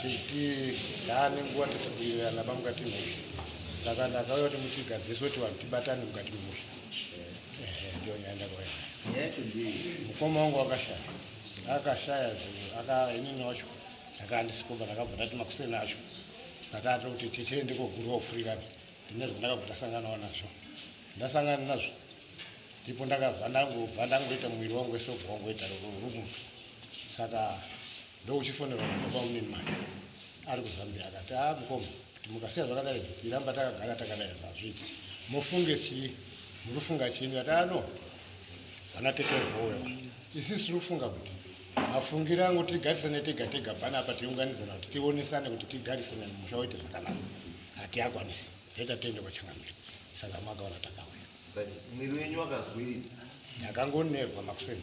zviti yaane nguva tichibuirana pamukati mhuri saka ndakauya kuti mutigadziriswe kuti vanhu tibatane mukati mhuri ndio nyaenda kwayacho mukoma wangu akashaya akashaya akainini wacho akandisikomba ndakabva ndati makuseni acho ndakati kuti tichee ndikogurwa kufurikana ndine zvandakabva ndasanganawo nazvo ndasangana nazvo ndipo ndakabva ndangobva ndangoita muviri wangu wese ubva wangoita rumunhu saka Ndokuchifonera mwana kwaMnini Maya ari kuZambia akati, ah mukoma kuti mukasiya zvakadai tiramba takagara takadai hazviiti. Mufunge chii? Muri kufunga chii? Ndikati, ah no, vana tete Rhowe vana. Isu tiri kufunga kuti mafungiro angu tigarisane tega tega panapa tiunganidzana kuti tionesane kuti tigarisane musha woite zvakanaka. Hatiakwanisi. Zvoita tiende kwaChangamire. Saka makaona takauya. Mwiri wenyu wakazwei? Ndakangonerwa makuseni.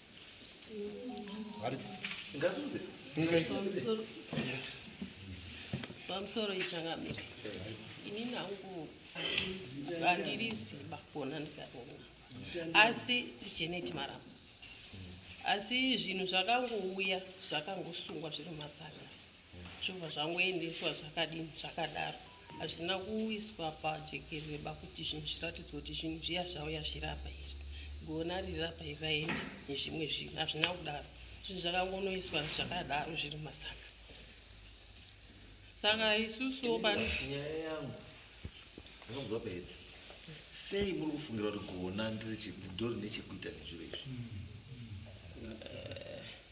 pamusoro ichangamire ini nangu handiri ziba kuona ndikaona asi jeneti maramba asi zvinhu zvakangouya zvakangosungwa zviri mumasanga zvobva zvangoendeswa zvakadini zvakadaro hazvina kuiswa pajekereba kuti zvinhu zviratidzwa kuti zvinhu zviya zvauya zvirapa izvi gona rirapa iri raenda nezvimwe zvinhu hazvina kudaro zvinhu zvakangonoiswa zvakadaro zviri masaka saka isusuwo panyaya yangu ndakabva paita sei muri kufungira kuti gona ndiri chidori nechekuita nezviro izvi hmm.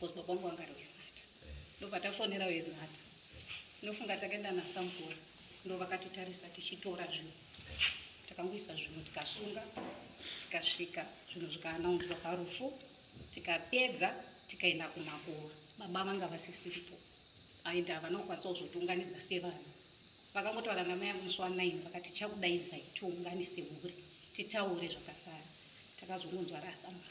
because baba wangu vanga roisnata ndopatafonera oisnata inofunga takaenda nasamukora ndo vakatitarisa tichitora zvinhu takangoisa zvinhu tikasunga tikasvika zvinhu zvikaanaunzwa parufu tikapedza tikaenda kumakuva baba vanga vasisiripo aenda havana kukwanisa kuzotiunganidza sevanhu vakangotaura namai yangu musi wanaini vakati chakudaidzai tiunganise mhuri titaure zvakasara takazongonzwa rasamana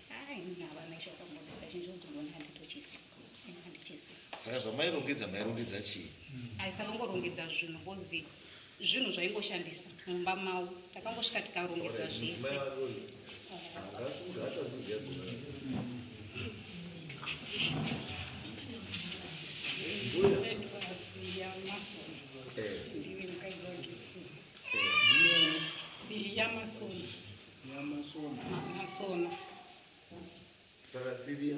saka zvamairongedza mairongedza chii aisanongorongedza zvinhu kozi zvinhu zvaingoshandisa mumba mavo takangosvika tikarongedza zvese Yamasona. Yamasona. Saka Siria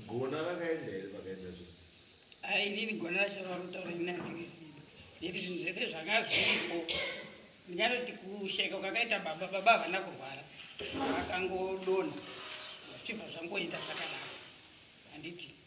gona rakaenda here pakaenda zvinhu? Ai inini gona racho rarutaura ini handirisiba. Nekuti zvinhu zvese zvanga zviripo. Ndingatoti kusheka kwakaita baba, baba havana kurwara. Vakangodonha zvichibva zvangoita zvakanaka. Handiti?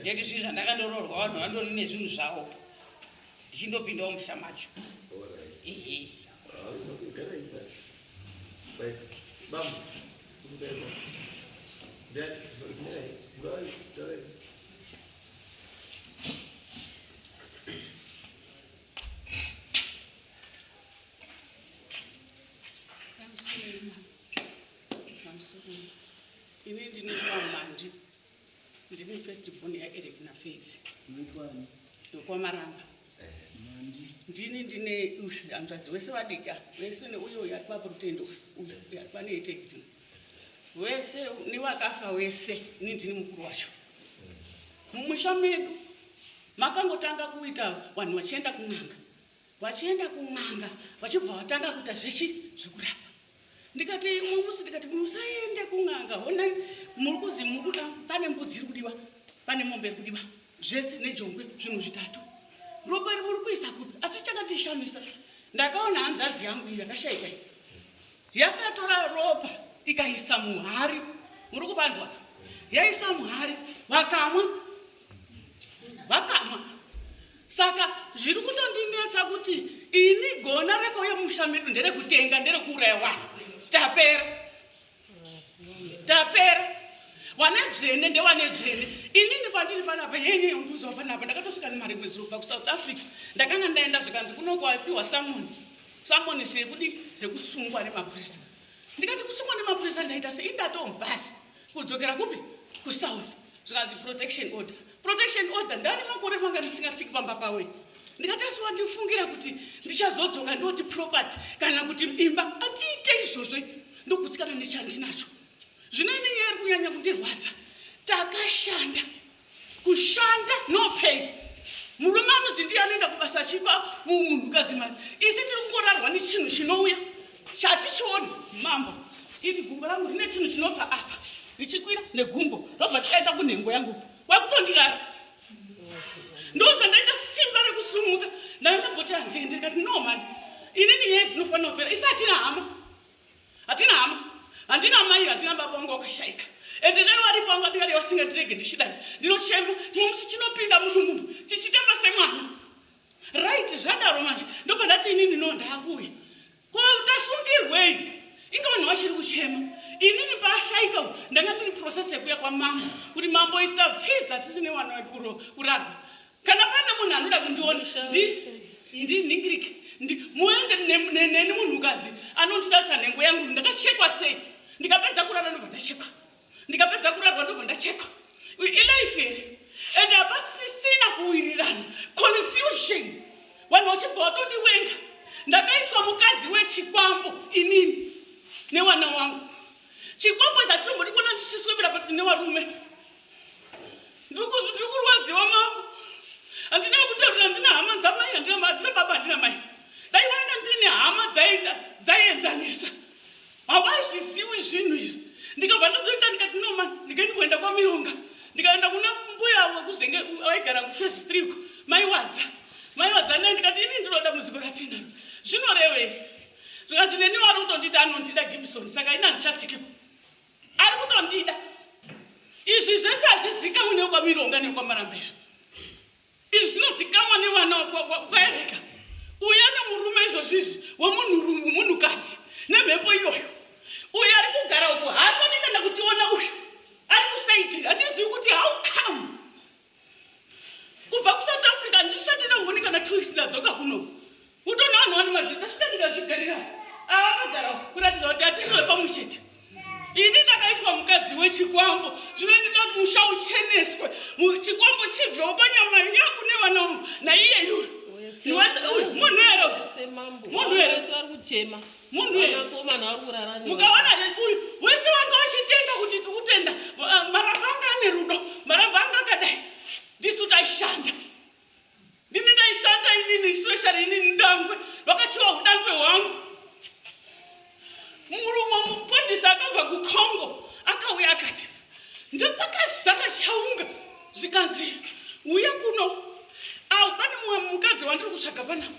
Ndeti zvinhu zvandakandoroorwa vanhu vandori nezvinhu zvavo ndichindopindawo musha macho. Ini ndinoita manje. Ndini first born yaEric naFaith. Wekwani? Wekwamaramba. Mandi. Ndini ndine hanzvadzi wese vadika vese neuyo yatwa kurutendo uyo yatwa neetekin wese newakafa wese ini ndini mukuru wacho mumusha medu makangotanga kuita vanhu vachienda kun'anga vachienda kun'anga vachibva vatanga kuita zvichi zvekurapa ndikati imwe musi ndikati musaende kun'anga honai muri kuzi muri kuda pane mbudzi iri kudiwa pane mombe iri kudiwa zvese nejongwe zvinhu zvitatu ropa ri muri kuisa kupi asi chakandishamisa ndakaona hanzvadzi yangu iyi yakashaika iyi yakatora ropa ikaisa muhari muri kupanzwa yaisa muhari wakamwa vakamwa saka zviri kutondinetsa kuti ini gona rekauya mumusha medu nderekutenga nderekuuraya vanhu tapera tapera wane dzvene ndewane dzvene inini kwandiri panapa nyenyeunduziwa panapa ndakatosvika nemari mwedzi rokuba kusouth africa ndakanga ndaenda zvikanzi kunokuapiwa samoni samoni sekudi rekusungwa nemapurisa ndikati kusungwa nemapurisa ndaita sei ndatomubhasi Kudzokera kupi? KuSouth. Zvikanzi protection order. Protection order ndani makore manga ndisingatsiki pamba pawe. Ndikati asi wandifungira kuti ndichazodzoka ndoti property kana kuti imba andiite izvozvo ndokutsikana nechandinacho. Zvino inenge yari kunyanya kundirwadza. Takashanda kushanda no pay murume anozi ndiye anoenda kubasa achipa munhukadzi mari isi tiri kungorarwa nechinhu chinouya chatichioni mambo iri gumbo rangu rine chinhu chinobva apa richikwira negumbo robva tikaita kunhengo yangu kwakutondirara ndozvandaita simba rekusumuka ndandamboti handiende ndikati no mani inini nyaya dzinofanira kupera isi hatina hama Hatina hama, handina mai, handina baba wangu wakashaika. Ende dai wari kwangu atikadai wasingandirege ndichidai. Ndinochema, chimwe musi chinopinda mudumbu chichitamba semwana. Right, zvadaro manje. Ndobva ndati inini no ndakuuya. Ko tasungirwei? Inga vanhu vachiri kuchema. Inini paashaika uyu ndanga ndiri process yekuya kwamambo kuti mambo isita pfiza tisine wana wedu kurarwa. kana pane munhu anoda kundiona ndinhingirike muende neni munhukazi anonditarisa nhengo yangu ndakachekwa sei ndikapedza kurara ndobva ndachekwa ndikapedza kurarwa ndobva ndachekwa ilife here and hapasisina kuwirirana confusion vanhu vachibva vatondiwenga ndakaitwa mukadzi wechikwambo inini newana wangu chikwambo chachinombodi kuona ndichiswebera pati nevarume ndirikurwadziwa mambo handina kutaurira ndina hama dzamai handina baba handina mai dai vaenda ndine hama dzaita dzaienzanisa havaizviziwi zvinhu izvi ndikabva ndozoita ndikati noma ndikaini kuenda kwamironga ndikaenda kuna mbuya wekuzenge aigara kufesi triko maiwadza maiwadza naye ndikati ini ndinoda muziko ratinaro zvinorevei zvikazi neni wari kutonditi anondida gibson saka ini handichatikiko ari kutondida izvi zvese hazvizikamwe nekwamironga nekwamaramba izvi izvi zvinozikamwa nevana kwaereka uya nemurume izvozvi izvi wemunhukadzi nemhepo iyoyo uyo ari kugara uku haatodi kana kutiona uyu ari kusaidi hatizivi kuti how come kubva kusouth africa handisati nehuni kana two weeks ndadzoka kuno utoona vanhu vani madhiri tasvika ndikazvigarira ava magara kuratidza kuti hatisi vepamwe chete ini ndakaitwa mukadzi wechikwambo zvino ndida kuti musha ucheneswe chikwambo chibvewo panyama yangu nevana vangu naiyeyu munhu here munhu here munhu mukaona uyu wese wanga uchitenda kuti tiri kutenda ah, marambo anga ane rudo marambo anga akadai ndisu taishanda ndini ndaishanda inini especially inini ndangwe vakachiva udangwe hwangu murume mupondisi akabva kucongo akauya akati ndopakazara chaunga zvikanzi uye kuno awo pane mumwe mukadzi wandiri kutsvaga panapa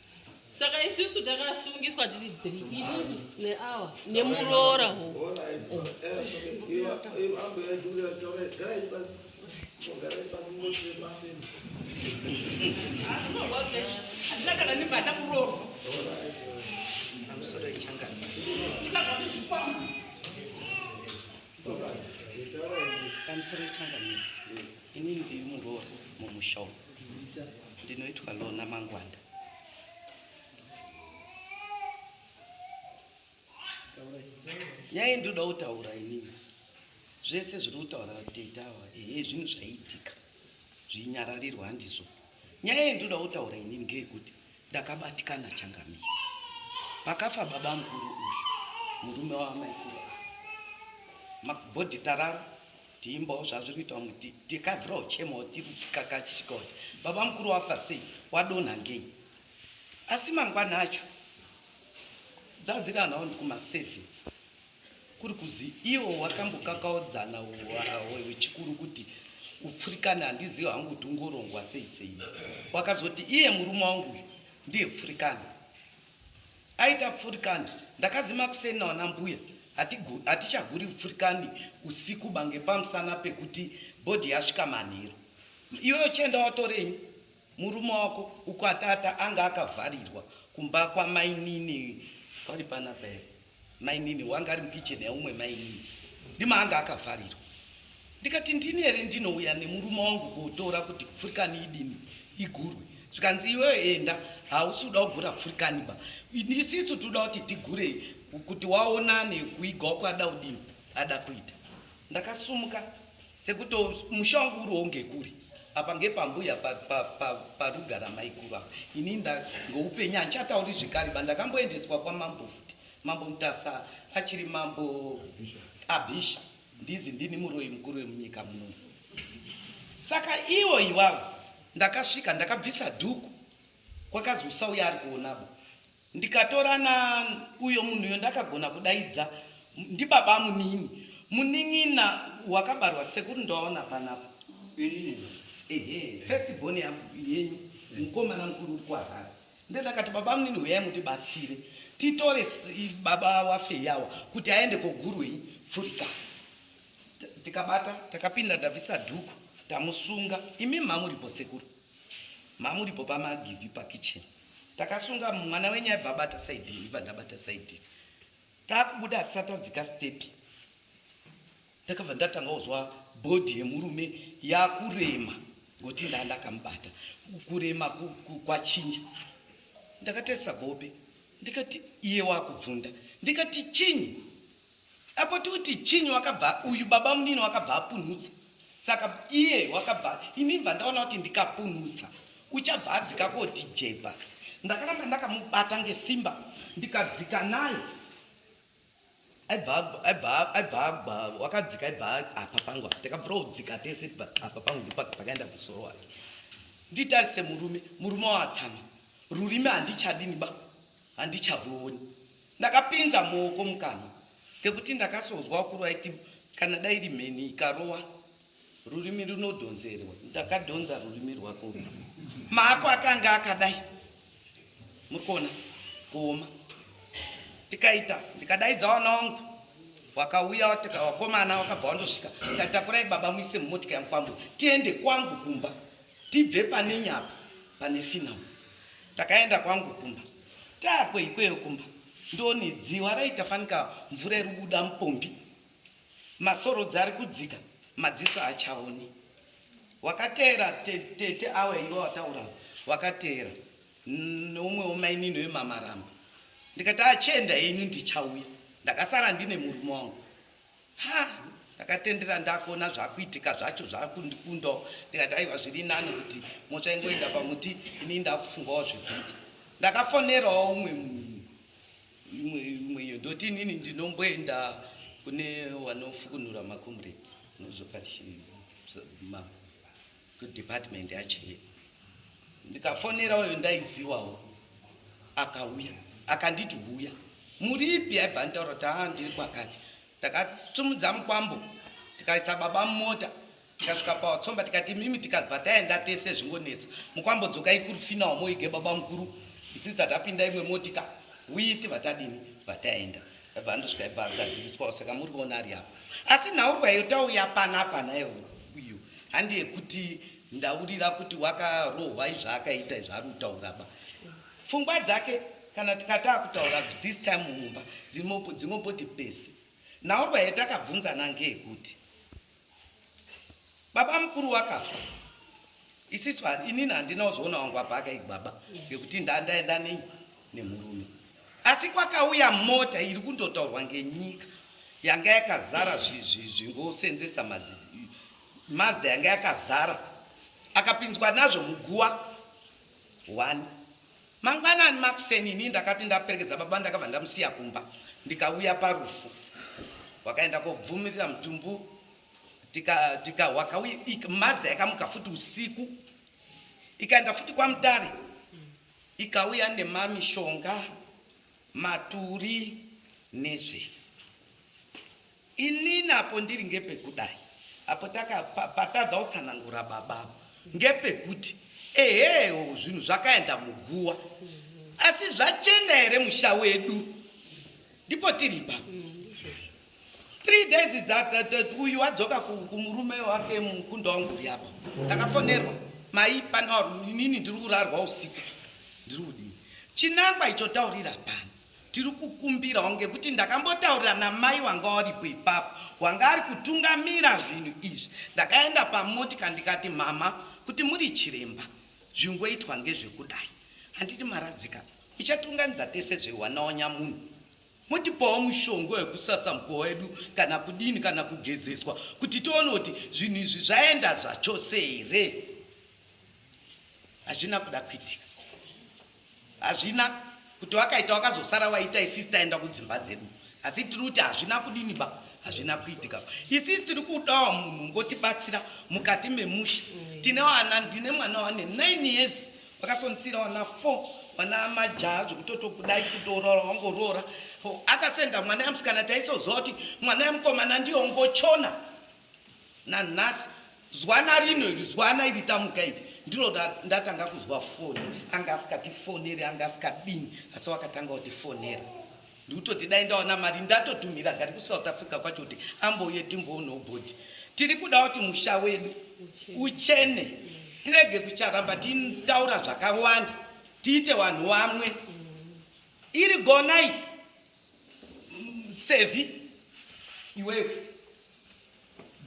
saka isusu takasungiswa tiri isu neawa nemuroora Right. Ini ndiri muroora mumusha umu. Zita. Ndinoitwa Lona Mangwanda. Nyaya ndinoda kutaura inini. Zvese zviri kutaura tete awa ehe zvinhu zvaiitika zvinyararirwa handizvo. Nyaya ndinoda kutaura inini ngeyekuti Ndakabatikana changamire. Pakafa baba mukuru uyu, murume wamaikuru ava. Makubhodhi tarara, tiimbawo zvazviri kuita vamwe tikavhirawo chemawo tiri kakachishika kuti baba mukuru wafa sei, wadonha ngei. Asi mangwana acho, dzaziri anawo ndikuma seven. kuri kuzi iwo wakambokakaudzana wechikuru kuti upfurikana handizivi hangu kuti ungorongwa sei sei wakazoti iye murume wangu ndiye pfurikana aita pfurikani ndakazima kuseni nawana mbuya hatichaguri pfurikani usiku bange pamusana pekuti bhodhi yasvika manheru iwe uchienda watorei Murume wako uko atata anga akavharirwa kumba kwamainini kwari panapa here mainini wanga ari mukicheni yaumwe mainini ndima anga akavharirwa ndikati ndini here ndinouya nemurume wangu kuotora kuti pfurikani idini igurwe zvikanzi iweyo enda hausi uda kugura pfurikani ba isisu tinoda kuti tigure kuti waonane kuigawo kwada udini ada kuita ndakasumuka Sekuto musha wangu uriwo ngekuri apa ngepambuya parugara maikuru apa ini ndangoupenyu handichatauri zvekare ba ndakamboendeswa kwamambo futi mambo mutasa achiri mambo abhisha ndizi ndini muroyi mukuru wemunyika muno saka iwo iwavo ndakasvika ndakabvisa dhuku kwakazi usauya ari kuonabo Ndikatora na uyo munhuyo ndakagona kudaidza ndibaba munini munin'ina wakabarwa sekuru ndoaona panapa ehe first born yenyu mukomana mukuru uri kuharara ndendakati baba munini huyai mutibatsire titore baba wafeyawa kuti aende kogurwei pfurika tikabata takapinda ndabvisa dhuku tamusunga imi mamuripo sekuru Mamuripo pamagivhi pakitchen takasunga mwana wenyu aibva abata side iri ibva ndabata side iri takubuda asisatadzika step ndakabva ndatanga kuzwa bhodhi yemurume yakurema ngokuti ndaa ndakamubata kurema kwachinja ndakatarisa gope ndikati iye wakubvunda ndikati chinyi Apo toti chinyi wakabva uyu baba munini wakabva apunhutsa saka iye wakabva ini bva ndaona kuti ndikapunhutsa uchabva adzika ko DJ bas ndakaramba ndakamubata ngesimba ndikadzika naye aibva wakadzika aibva apa pangu takabvira kudzika tese apa pangu ndipo pakaenda musoro wake nditarise murume murume watsama rurimi handichadini ba handichavoni ndakapinza muoko mukanwa kekuti ndakasonzwa wakuru aiti kana dai iri mheni ikarowa rurimi runodhonzerwa ndakadhonza rurimi rwako maako akanga akadai mukona kuoma tikaita ndikadaidza wana wangu wakauya watika wakomana wakabva wandosvika ndatakurai baba muise mumotika yangu pamwe tiende kwangu kumba tibve pane nyapa pane finawo Takaenda kwangu kumba. Taakwe ikweyo kumba ndoni dziwa raita fanika mvura iri kubuda mupombi. Masorodzi ari kudzika madziso haachaoni. Wakateera te- tete awa iwe wataura awa. wakateera N- neumwe wemainini wemamaramba ndikati achienda henyu ndichauya ndakasara ndine murume wangu ha ndakatendera ndakuona zvakuitika zvacho zvakundikundawo ndikati aiwa zviri nani kuti mota ingoenda pamuti ini ndakufungawo zvekuita ndakafonerawo umwe imwe iyo ndoti inini ndinomboenda kune wanofukunura makomrade nozopa chii ma kudepartment yachief ndikafonera uyo ndaiziwawo akauya akanditi huya muripi aibva anditaura kuti haa ndiri kwakati takatumudza mukwambo tikaisa baba mumota tikasvika pawatsomba tikati mimi tikabva taenda tese zvingonetsa mukwambo dzokai kurufinawo moige baba mukuru isisi tatapinda imwe motika uyi tibva tadini bva taenda aibva andosvika aibva agadziriswawo saka muri kuona ari apo asi nhaurwa yotauya pana pana yeuyu handi yekuti ndaurira kuti wakarohwa izvaakaita izvaari kutaura ba pfungwa dzake kana tikataa kutaura this time mumba dzingoboti pese naurwa yetakabvunzana ngeyekuti baba mukuru wakafa isisu inini handina kuzoona wangu apa akaigwaba ngekuti ndandaenda nei nemurume Asi kwakauya mota iri kundotaurwa ngenyika yanga yakazara zvingosenzesa mazda yanga yakazara akapinzwa nazvo muguwa one mangwanani makuseni ini ndakati ndaperekedza baba ndakabva ndamusiya kumba ndikauya parufu wakaenda kobvumirira mutumbu tikawakauya mazda yakamuka futi usiku ikaenda futi kwamutare Ikauya nemamishonga, maturi nezvese. Inini apo ndiri ngepekudai apo patadza kutsanangura baba apo ngepekuti ehewo zvinhu zvakaenda muguwa asi zvachena here musha wedu ndipo tiripa three days uyu wadzoka kumurume wake mukunda wangu uri apa ndakafonerwa mai panawa inini ndiri kurarwa usiku ndiri kudii chinangwa icho taurira pano tiri kukumbirawo ngekuti ndakambotaurira namai wanga waripo ipapo wanga ari kutungamira zvinhu izvi ndakaenda pamotika ndikati mama kuti muri chiremba zvingoitwa ngezvekudai handiti maradzika ichatunganidza tese zvewanawanya munhu Motipawo mushonga wekusasa mukova wedu kana kudini kana kugezeswa kuti tione kuti zvinhu izvi zvaenda zvachose here. Hazvina kuda kuitika. Hazvina kuti wakaita wakazosara waita isisi taenda kudzimba dzedu. Asi tiri kuti hazvina kudini ba hazvina kuitika. Isisi tiri kudawo munhu ngotibatsira mukati memusha. Tine vana ndine mwana wane 9 years vakasonsira wana four wana majaha zvekutoto kudai kutoroora wangoroora akasenda mwana yamusikana taisoziva kuti mwana yamukomana ndiyo ngochona nanhasi zwana rino iri zwana iri tamuka iri ndiro ndatanga kuzwa foni anga asikatifoneri anga asikadini asi wakatanga kutifonera ndikutoti dai ndaona mari ndatodhumhira gari kusouth africa kwacho kuti ambouye timboonawo bhodhi tiri kuda kuti musha wedu uchene tirege kucharamba titaura zvakawanda tiite vanhu vamwe iri gonai sevi iwewe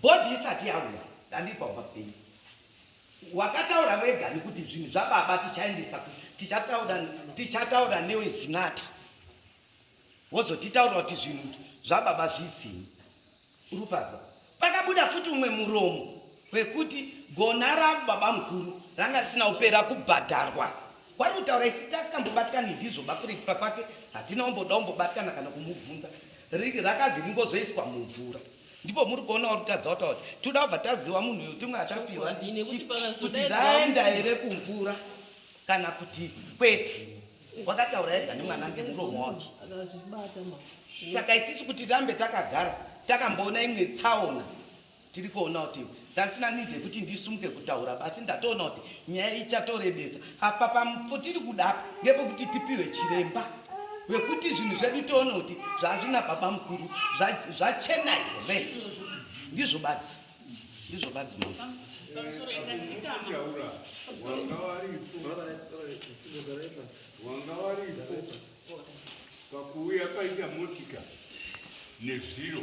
bhodhi isati yauya ndandiri pamba pei Wakataura wega nekuti zvinhu zvababa tichaendesa tichataura tichataura newe zinata wozotitaura kuti zvinhu zvababa zvizinyi urupazwa pakabuda futi umwe muromo wekuti gona rangu baba mukuru ranga risina kupera kubhadharwa Kwari kutaura isiti asikambobatikani ndizvo bakuri kufa kwake hatina omboda ombobatikana kana kumubvunza rakazi ringozoiswa mumvura ndipo muri kuona uri kutadza kutaura kuti tinoda kubva taziva munhu uyu timwe atapiwa kuti raenda here kumvura kana kuti kwete wakataura ega nemwana ngemuromo wake saka isisi kuti rambe takagara takamboona imwe tsaona tiri kuona kuti ndasina need yekuti ndisumuke kutaura basi ndatoona kuti nyaya ichatorebesa apa pamupotiri kuda apa ngepekuti tipiwe chiremba wekuti zvinhu zvedu toona kuti zvazvina baba mukuru zvachena here ndizvo badzi ndizvo badzi mu wanga waripo pakuuya paita motika nezviro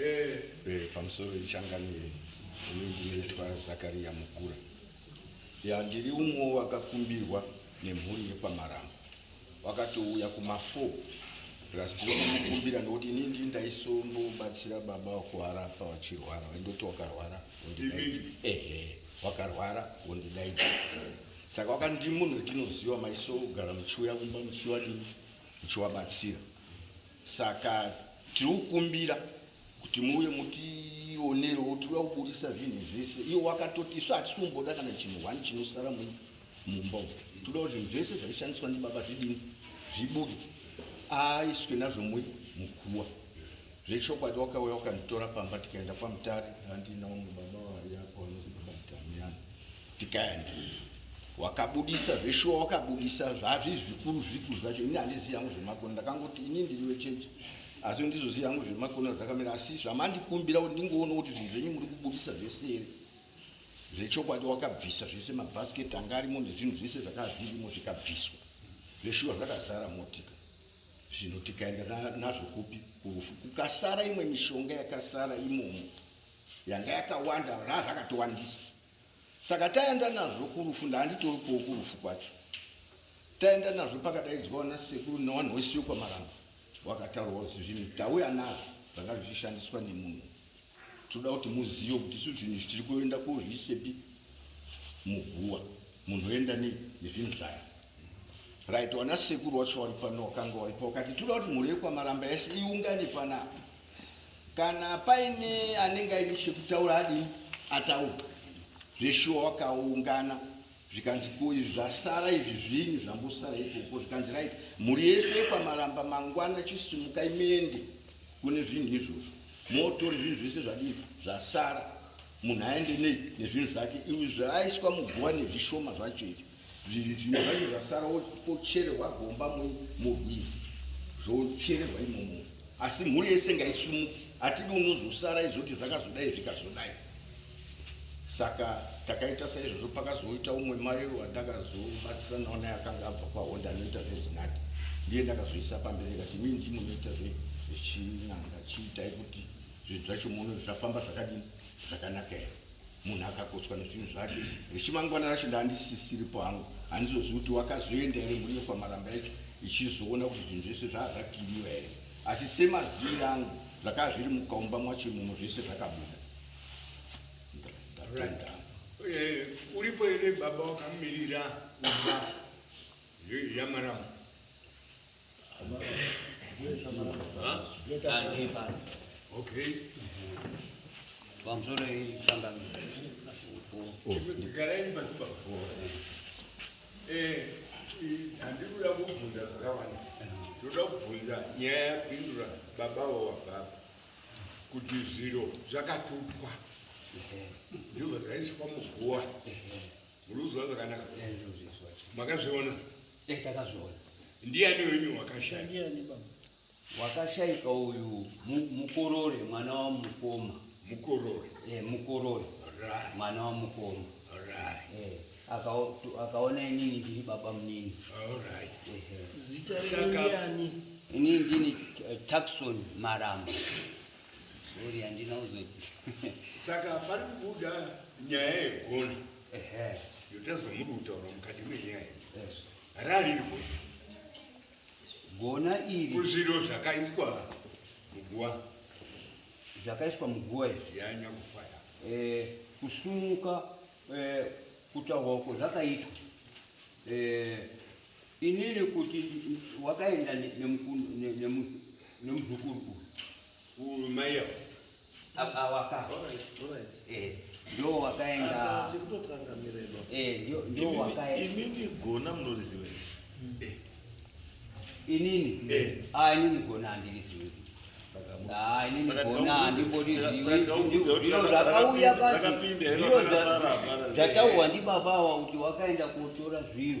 Eh, pamusoro ichangamire ini ndinoitwa zakariya mukura ya ndiri umwe wakakumbirwa nemhuri yepamarambo wakatouya kuma4 plus ndinokumbira nokuti ini ndii ndaisombobatsira baba wakuharafa wachirwara waindoti wakarwara wondidaidza ehe wakarwara wondidaidza saka wakandimunhu tinoziva maiso kugara muchiuya kumba muchiwadii muchiwabatsira saka tiri kukumbira kuti muuye mutionerewo tinoda kuburisa zvinhu zvese iyo wakatoti isu hatisi kumboda kana chinhu one chinosara mumba umu toda kuti zvinhu zvese zvaishandiswa ndibaba zvidini zvibude aiswe nazvo mui mukuwa zvechokwadi wakauya wakanditora pamba tikaenda kwamutare andinawo mubaba waiyapo anozobaba mutamiana tikandi wakabudisa zveshuwa wakabudisa zvazvi zvikuru zvikuru zvacho ini handizivi yangu zvemakono ndakangoti ini ndiri wechechi asi ndizozivi yangu zvemakono zvakamira asi zvamandikumbira kuti ndingoona kuti zvinhu zvenyu muri kubudisa zvese here zvechokwadi wakabvisa zvese mabhasiketi anga arimo nezvinhu zvese zvakazvirimo zvikabviswa zveshuwa zvakazara motika zvinhu tikaenda nazvo kupi kurufu kukasara imwe mishonga yakasara imomo yanga yakawanda raa zvakatowandisa Saka taenda nazvo kurufu ndaanditoripowo kurufu kwacho. Taenda nazvo pakadaidzwa wana sekuru newanhu wese wekwamaramba wakataurwa kuti zvinhu tauya nazvo zvanga zvichishandiswa nemunhu. Tinoda kuti muzive kuti isu zvinhu izvi tiri kuenda kozviisepi muguwa munhu oenda nei nezvinhu zvayo right wana sekuru wacho wari pano wakanga waripo wakati tinoda kuti mhuri yekwamaramba yese iungane panapa Kana paine anenge aine chekutaura adi ataura zveshuwa wakaungana zvikanzi ko izvi zvasara izvi zvinyi zvambosara ikoko zvikanzi right mhuri yese yekwamaramba mangwana chisimuka imende kune zvinhu izvozvo motore zvinhu zvese zvadii zvasara munhu aende nei nezvinhu zvake izvi zvaaiswa muguva nezvishoma zvacho izvi zvinhu zvacho zvasara wochererwa gomba murwizi zvochererwa imomo asi mhuri yese ngaisumuke hatidi unozosara izoti zvakazodai zvikazodai saka takaita saizvozvo pakazoita umwe mai wandakazobatsira nawo naye akanga abva kwahonda anoita zvezinati ndiye ndakazoisa pamberi kati mi ndimunoita zvechinanga chiitai kuti zvinhu zvacho muno zvafamba zvakadini zvakanaka here munhu akakotswa nezvinhu zvake rechimangwana racho ndandisisiripo hangu handizozi kuti wakazoenda here mburi yekwamaramba yacho ichizoona kuti zvinhu zvese zvaa zvakiriwa here asi semaziviri angu zvakaa zviri mukaumba mwacho imomo zvese zvakabuda ndatenda eh, uripo here baba wakamirira uba yamaramba handikuda kubvunza zvakawanda ndoda kubvunza nyaya yapindura baba wawababa kuti zviro zvakatupwa ndizvo zvaiswa muguwa muruziva zvakanaka makazviona dai takazviona ndiani wenyu wakashaya wakashaika uyu mukorore mwana wa mukoma mukorore eh mukorore right mwana wa mukoma right eh akaona inini ndiri baba munini all right eh, eh. zita rani inini ndini eh, taxon maramba sorry andina uzoti saka pari kubuda nyaya yegona ehe yotanzwa muri kutaura mukati menyaya ralirwo gona iri kuzviro zvakaiswa muguwa zvakaiswa muguwa izvi yanya kufaya eh, kusumuka eh, kutaurwa uko zvakaitwa eh, inini kuti wakaenda nemuzukuru uyu mai yako awaka eh, ndio wakaenda eh, ndio ndio wakaenda ini ndigona munoriziwe hmm. eh. inini eh. ah inini gona andiriziwe ah inini gona andibodiziwe ndiro rakauya pati ndiro zvatauwa ndi baba wa kuti wakaenda kutora zviro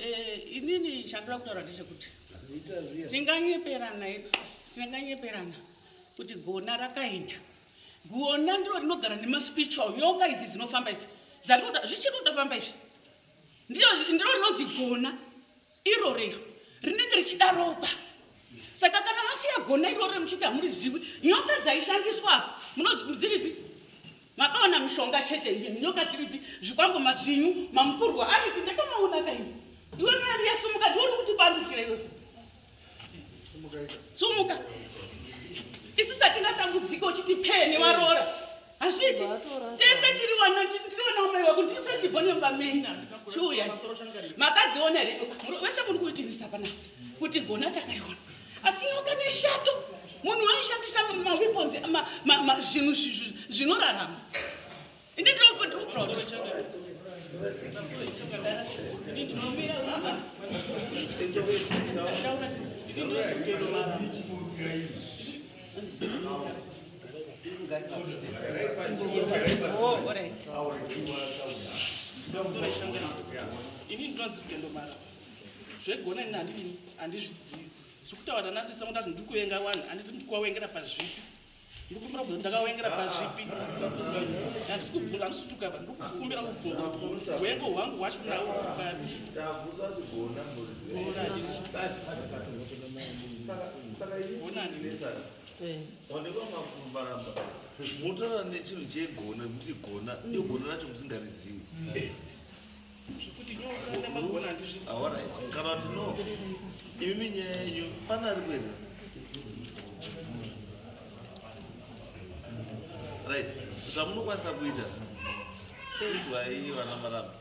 Eh, inini chandoda kutaura ndechekuti tinganyeperana tinganyeperana kuti gona rakaenda gona ndiro rinogara nemaspiritual nyoka idzi dzinofamba idzi zvichiri kutofamba izvi ndiro rinonzi gona iro rero rinenge richida ropa saka kana vasiya gona iroro remuchiti hamurizivi nyoka dzaishandiswa apo munodziripi Makaona mishonga chete imimi nyoka dziripi zvikwambo madzvinyu mamukurwa aripi ndakamaona kaini iwe mari yasumuka ndiwori kuti pandufira iwe sumuka isu satina tambudziko uchiti pee newaroora hazviti tese tiri wana tiri wana umai wako ndiri first born yomba meni chiuya makadziona here vese muri kuitirisa pana kuti gona takariona asi nyoka neshato munhu aishandisa maweapons zvinhu zvinorarama ini ndinokuti zvegona ini handidini handizvizivi zvekutaura nanasisa kuti azi ndikuenga wani handisi kuti ndikuwawengera pazvipi ndikumbira kubvunza ndakawengera pazvipi handisi kubvunza handisi kuti ukaba ndikukumbira kubvunza kuti wengo hwangu hwacho nawo papi motora nechinhu chegona kuti gona iyo gona racho musingarizivi zvekuti nyoka nemagona handizvisi ah, kana kuti no imimi nyaya yenyu pane ari kuenda right zvamunokwanisa kuita izwai vana maramba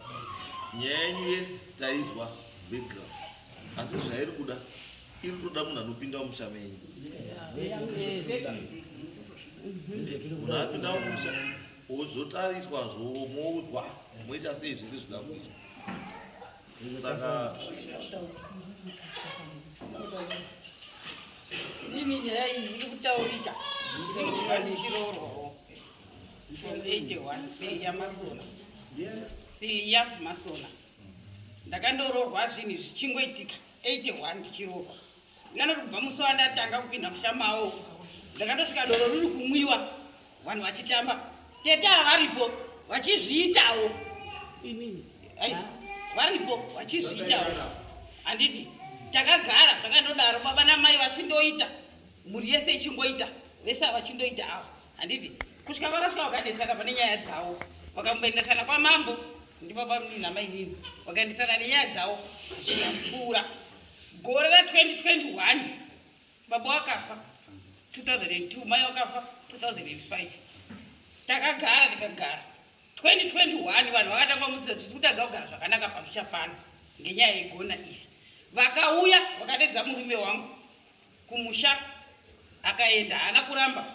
nyaya yenyu yesi taizwa background asi zvairi kuda iri kutoda munhu anopinda mumusha menyu munhu apinda mumusha wozotariswa zvo moudzwa moita sei zvese zvinoda kuitwa saka mimi nyaya iyi iri kutaurika ndinochivanechirorwawo from 81 siya masona siya masona ndakandororwa zvinhu zvichingoitika 81 ndichirorwa Nganoti kubva musi wandatanga kupinda mushamawo ndakatosvika doro riri kumwiwa vanhu vachitamba tete havaripo vachizviitawo inini varipo vachizviitawo handiti takagara zvakandodaro baba namai vachindoita mhuri yese ichingoita vese avachindoita ava handiti kusvika vakasvika vakanetsana pane nyaya dzavo vakamboendesana kwamambo ndibaba namai nini vakaendesana nenyaya dzavo zvikapfuura gore ra 2021 baba wakafa 2002 mai wakafa 2005 takagara tikagara 2021 vanhu vakatanga mudzidza kuti kutadza kugara zvakanaka pamusha pano ngenyaya yegona iri vakauya vakadedza murume wangu kumusha akaenda haana kuramba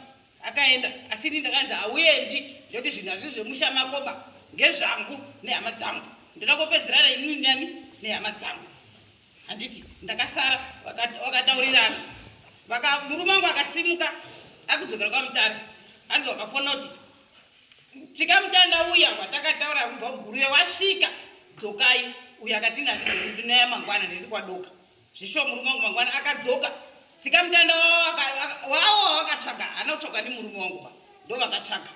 akaenda asi ini ndakanzi hauendi nekuti zvinhu hazvii zvemusha makoba ngezvangu nehama dzangu ndoda kopedzerana ini nani nehama dzangu handiti ndakasara wakataurirana murume wangu akasimuka akudzokera kwamutare hanzi wakafona kuti tsika mutanda uya watakataura kubva kuguruye wasvika dzokai uyo akatinazidunaya mangwana ndiri kwadoka Zvishwa murume wangu mangwana akadzoka tsika mutanda wawo wawakatsvaga haana kutsvaga nemurume wangu pa ndo vakatsvaga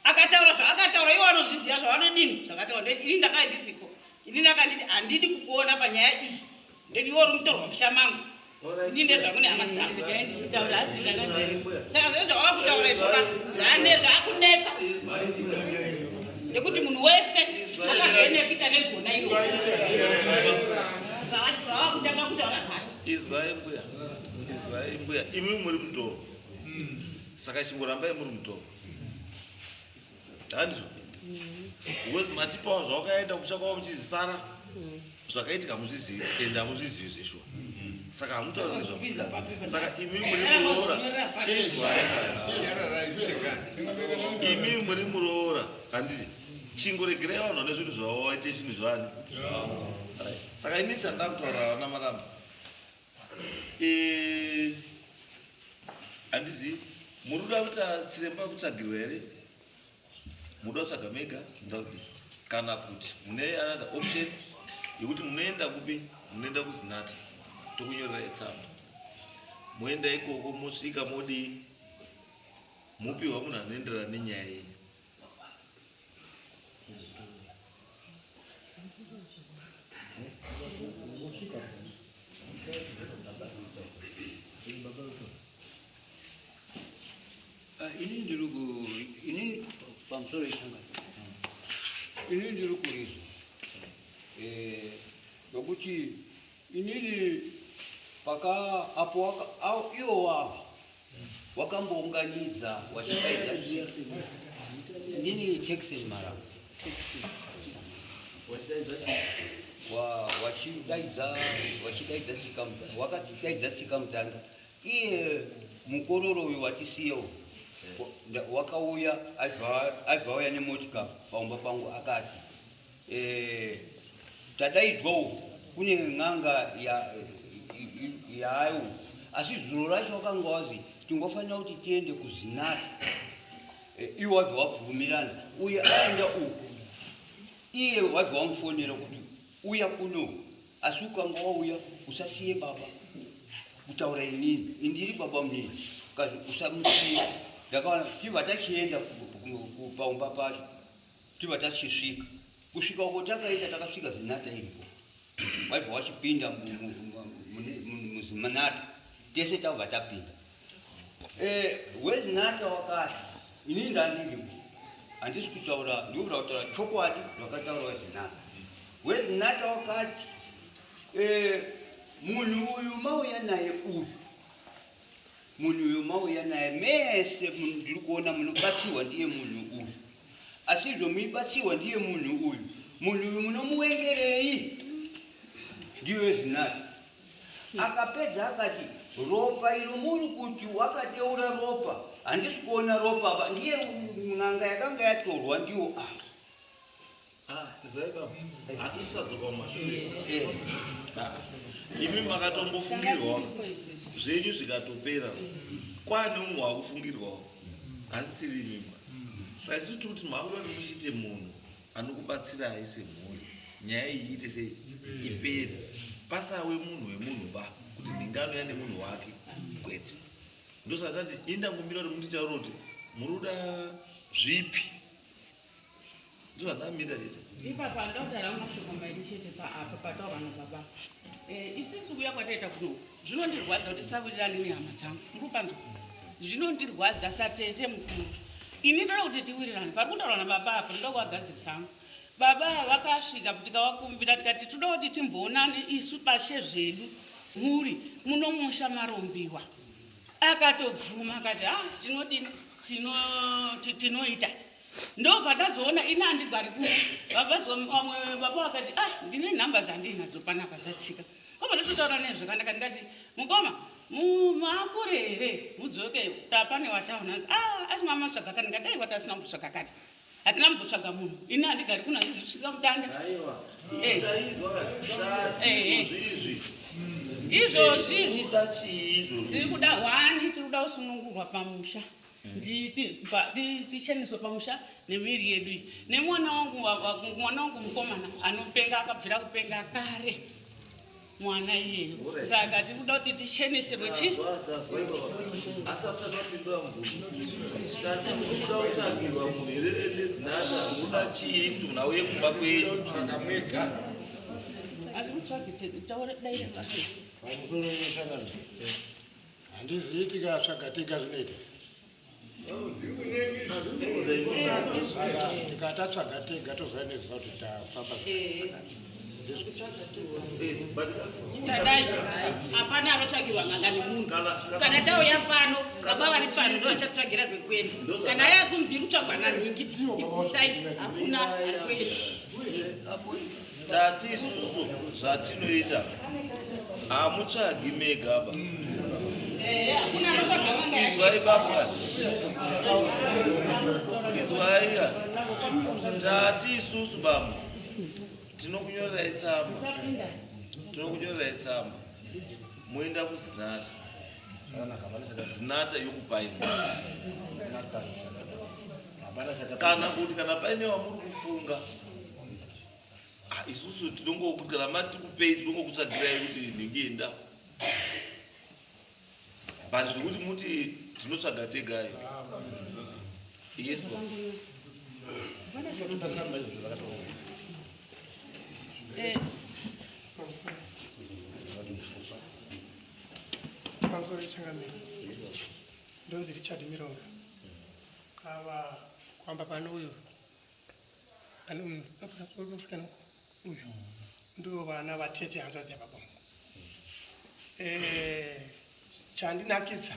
akataura zvaakataura iwo anozviziva zvavanodini zvakataura ini ndakave ndisipo ini ndakanditi handidi kukuona panyaya iyi ndoti iwo uri mutorwa musha mangu ini ndezvakune hama dzangu saka zvezvawakutaura izvoka zvakunetsa nekuti munhu wese akabenefita negona iro ravakutanga kutaura nhasi izwai mbuya izwai mbuya imi muri mudhoro saka chingorambai muri mudhoro handizvo wes matipawo zvawakaenda kutsvakawo muchizisara zvakaitika hamuzvizivi and hamuzvizivi zveshuwa saka hamutaura nezvamusikazi saka imi muri muroora imi muri muroora handiti chingoregerai vanhu vane zvinhu zvavo vaite chinhu zvani saka ini chandaa kutaura vana maramba eh, handizivi muri kuda kuita chiremba kutsvagirwa here muda kutsvaga mega muda kudii kana kuti mune another option yekuti munoenda kupi munoenda kuzinata tokunyorerai tsamba moenda ikoko mosvika modii mopiwa munhu anoenderana nenyaya yenyu Thank you. Ah, ini ndiri ku ini pamusoro isangano ini ndiri kurizwa eh, nokuti inini paka apo iwo wavo wakambounganidza wachikaidza ndini texin marau wachidaidza tsika wakadaidza tsika mutanga Iye mukororo uyu watisiya uyu wa- nda- wakauya aibva aibva auya nemotika pamumba pangu akati eh, tadaidzwawo kune n'anga ya- i- i- yaayo asi zuro racho wakanga wazi tingofanira kuti tiende kuzinati Eh, iwe wabva wabvumirana uye aenda uku iye wabva wamufonera kuti uya kuno asi ukanga wauya usasiye baba kutaura inini indiri baba mnini kazi usamusiye ndakaona tibva tachienda paumba pacho tibva tachisvika kusvika uko takaita takasvika zinata iripo waibva wachipinda muzinata tese tabva tapinda Eh, wezi nata wakati ini ndandiripo handisi kutaura ndikuda kutaura chokwadi zvakataura wezi nata wezi nata wakati eh, munhu uyu mauya naye uyu munhu uyu mauya naye mese ndiri kuona munobatsirwa ndiye munhu uyu asi izvo muibatsirwa ndiye munhu uyu munhu uyu munomuwengerei ndiyo wezi nata Akapedza akati, ropa iro muri kuti wakateura ropa, handisi kuona ropa apa, ndiye n'anga yakanga yatorwa ndiwo apa. Ah, Zvaibaba, hatisadzoka kumashure. Eh, Ah, Imi makatombofungirwawo zvenyu zvikatopera kwane umwe wakufungirwawo asisiri imimba saisu tiri kuti makuda kuti muchite munhu anokubatsirai semhuri nyaya iyi iite sei ipere pasawe munhu wemunhu ba kuti ndingano yane munhu wake kwete ndosaka tati indangomira kuti munditaura kuti muri kuda zvipi ndozvandamirira chete ipapa ndautaranga mashoko mairi chete paapa pataura nababa eh, isusu kuya kwataita kunoku Zvinondirwadza kuti sawirirane nehama dzangu. Muri panzwa? Zvinondirwadza satete mukuru. Ini ndoda kuti tiwirirane. Pari kutaura nababa apa ndoda kuvagadzirisa hangu. Baba vakasvika tikavakumbira tikati toda kuti timboonane isu bashe zvedu mhuri munomusha marombiwa. Akatobvuma akati ha tinodini tinoita ndobva ndazoona ini andigwari kuno vabva vamwe baba vakati ah ndine nhamba dzandinadzo panapa zvatsika Kobva ndototaura nezve kandaka ndikati mukoma mumakure here mudzoke tapane wataona anzi a ah, asi mama tsvaga kani ndikati aiwa tasina kutsvaga kani hatina mumbotsvaga munhu ini handigari kuno handizvisvika mutanda eh. eh, eh. ndizvozvizvi tiri kuda hwani tiri kuda kusunungurwa pamusha ticheneswe pamusha nemiri yedu iyi nemwana wangu mwana wangu mukomana anopenga akabvira kupenga kare mwana iyeyo saka tiri kuda kuti ticheneserwe chi Handizivi tikatsvaga tega zvinoita. Saka tikatatsvaga tega tozova neziva kuti tafamba. tadai hapana anotsvagirwa nganga nemunhu kana tauya pano baba vari pano ndovachatsvagira kwekuenda kana aya kunzi iri kutsvagwa nanhingi side hakuna ari kuenda Tati isusu zvatinoita hamutsvagi mega apa izwai baba izwai ka tati isusu baba tinokunyorerai tsamba tinokunyorerai tsamba moenda kuzinata zinata yokupai kana kuti kana paine wamuri kufunga Ah, isusu tinongokama tikupei tinongokutsvagirai kuti ndinge enda but zvekuti muti tinotsvaga tegai yes baba. Eh, pamusoro pechangamiro ndonzi richard mironga ava kwamba pano uyu pane munhu akasikana uyu ndo vana vatete hanzvadzi yababa vangu eh, chandinakidza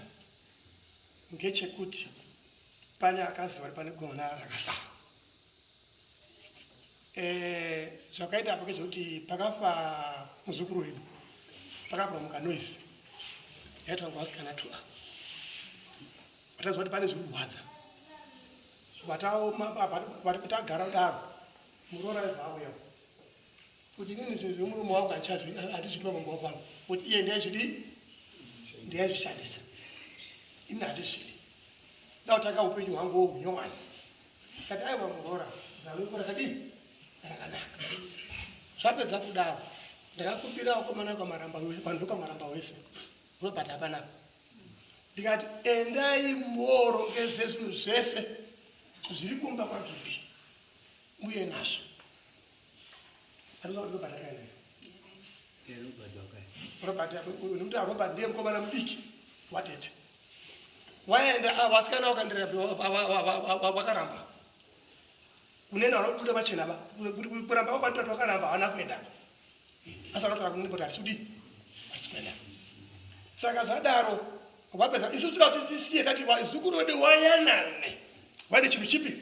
ngechekuti pane akaziva kuti pane gona rakasara eh, zvakaita apo kezvekuti pakafa muzukuru wedu pakabva mukanoisi yaitwa ngavasikana tua vataziva kuti pane zviri kurwadza vari kuti agara kudaro muroora aibva auya kuti inini zvinhu zvemurume wangu handizvidi pamumba pangu kuti iye ndiyaizvidii ndiyaizvishandisa ini handizvidi ndautanga upenyu hwangu wohunyowani kati aiwa muroora zano iko rakadii rakanaka zvapedza kudaro ndakakumbira wakomana kwamaramba vanhu kwamaramba wese robert hapanapa ndikati endai moorongese zvinhu zvese zviri kumba kwagiri uye nazvo nokuti arobert ndiye mukomana mudiki watete waenda vasikana vakandiraakaramba kunena vanobuda vachena kuramba kwatatu vakaramba havana kuenda asi akatoa kunini kuti asudi asikuenda saka zvadaro vapedza isu tira kuti tisiye tati zukuru wedu wayanane vaine chinhu chipi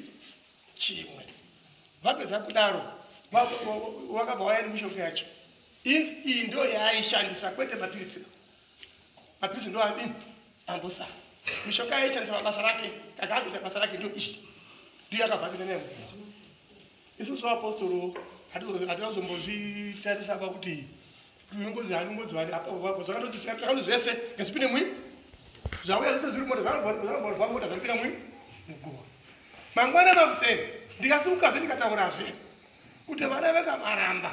chimwe vapedza kudaro wakabva waya nemishonga yacho iyi ndo yaaishandisa kwete mapiritsi mapiritsi ndo adini ambosara mishonga yaishandisa mabasa rake kakakuita basa rake ndo iyi ndiyo yakabva apinda nemuguva isusu vaapostoro hatizombozvitarisa pa kuti tinongozi hanongozi vani apapo zvakatozitakato zvese ngazvipinde mwi zvauya zvese zviri mota zvanorwa mota zvaripinda mwi muguva mangwana makuseni ndikasukazve ndikataurazve kuti vana vekamaramba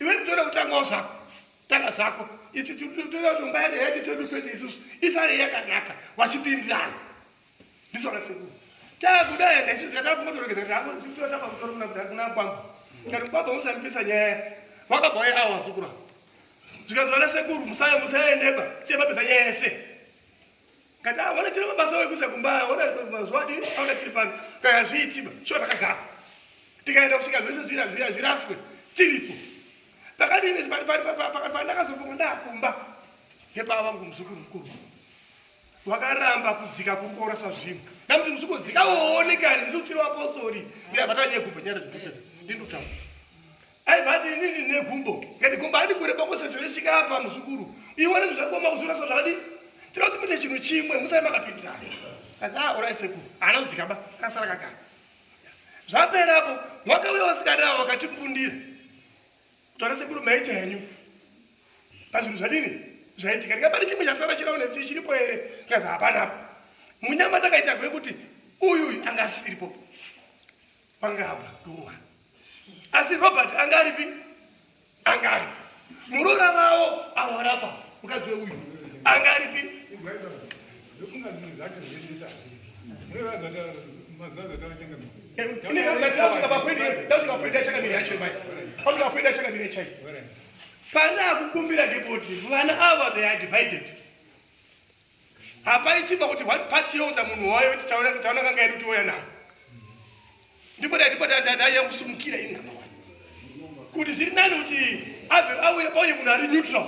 iwe nditoda kutangawo zvako tanga zvako iti toda kuti mba yake yati todu fete isusu isare yakanaka vachipindirana ndisona sekuru takuda enda isusu tatafunga torogeza kuti hako totamba kutora kuna kuda kuna kwamba kati kwamba musamipisa nyaya vakabva waye awa sukura zvikazivana sekuru musaye musaendeba siyemapisa nyaya yese Kata wana chiro mabasa wewe kusa kumbaya wana mazwadi anga chiri pano kaya zviitiba sho takagara tikaenda kusvika zvese zvira zvira zviraswe tiripo pakati ine pari pari pakati pandakazoponga ndakumba ngepava vangu muzukuru mukuru wakaramba kudzika kukora sazvino namuti muzukuru dzika woonekani ndisi kutiri wapostori ndiyabatanye kumba nyara dzipesa ndindotaura aivati inini negumbo ngati gumbo adi kureba kwose zvinosvika apa muzukuru iwe nezvi zvakoma kuzvirasa zvakadi tinoda kuti muite chinhu chimwe musai makapindirana kati ah orai sekuru haana kudzikaba akasara kagara zvapera apo wakauya vasikana avo vakatipundira kutaura sekuru maita henyu pazvinhu zvadini zvaitika ndika pane chimwe chasara chiravo nesi chiripo here ngazi hapana apo munyama takaita gwekuti uyuyu anga asiripo pangava paduwa asi robert anga aripi anga aripi murora vavo avo varapa mukadzi weuyu anga aripi pandakukumbira ndipoti vana ava they are divided hapaitimba kuti what part youdza munhu wayo kuti taona kuti taona kanga yedu tiouya navo ndipo ndipo ndaiya kusumukira ini hama wani kuti zviri nani kuti abve auye pauye munhu ari neutral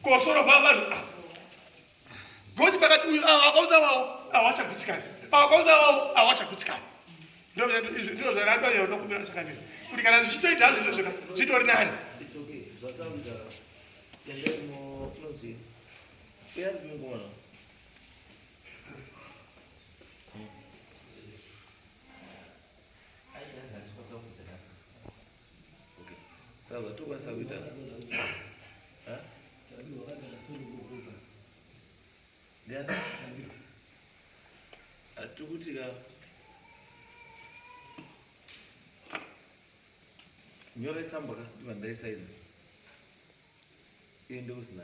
kosoro va vanhu ava goti pakati uyu ava akaudza wavo avachagutsikani ava akaudza wavo avachagutsikani ndizvo zvaradoya unokumbira sakamira kuti kana zvichitoita hazvo izvo zvaka zvitori nani Sawa, tu basa kuita. Ha? Tabi wakati anasuru kukupa. Ndia? Atukuti ka. Nyora tsamba ka ndiva ndaisaina. Iye ndokusina.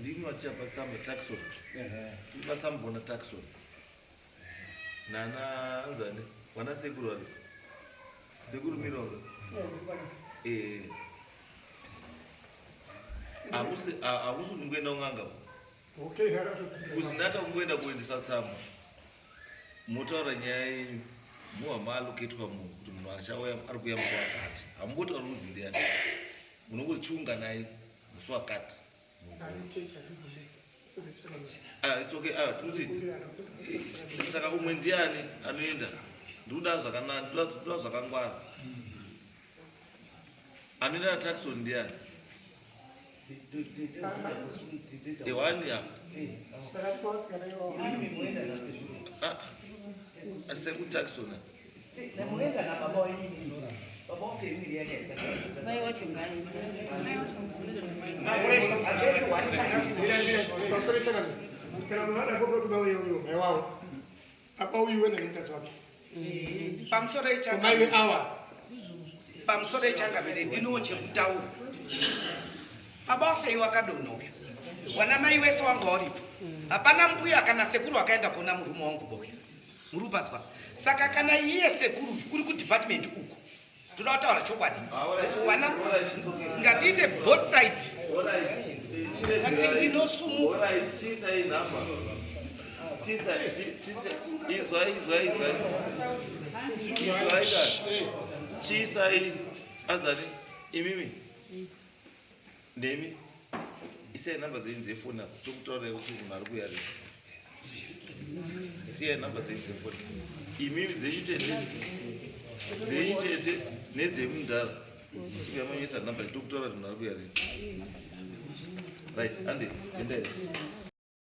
ndini vachapa tsamba taxon tiri vatsamugona taxon nana anzani vana sekuru vave sekuru mironga ee hakusi kungoenda kun'anga kuzinata kungoenda kuendesa tsamba motaura nyaya yenyu muhama aloketwa munhu kuti munhu achauya ari kuya mukwakati hamungotauri kuzi ndiyani munongozichiunganai musi wakati ah, ah, tikuti saka umwe ndiani anoenda ndikuda zvakanaka ndikuda zvakangwana anoenda nataxon ndiani hewani ya ah, sekutaxona apa uyu wena nemukadzi wake pamusoro ichamaiwe awa pamusoro ichangamire ndinowo chekutaura baba wafei wakadonha uyu wana mai wese wanga waripo hapana mbuya kana sekuru akaenda kuona murume wangu boya muri kupanzwa saka kana iye sekuru uri kudepartment uku toda kutaura chokwadi vana ngatiite both side ndinosumuka chiisai azati imimi Ndemi isai number dzenyu dzefoni apo tokutaura kuti munhu ari kuya ri siyai number dzenyu dzefoni imimi dzenyu tete dzenyu tete nedzemudhara tikamanyisa number tokutaura kuti munhu ari kuya ri right ande endai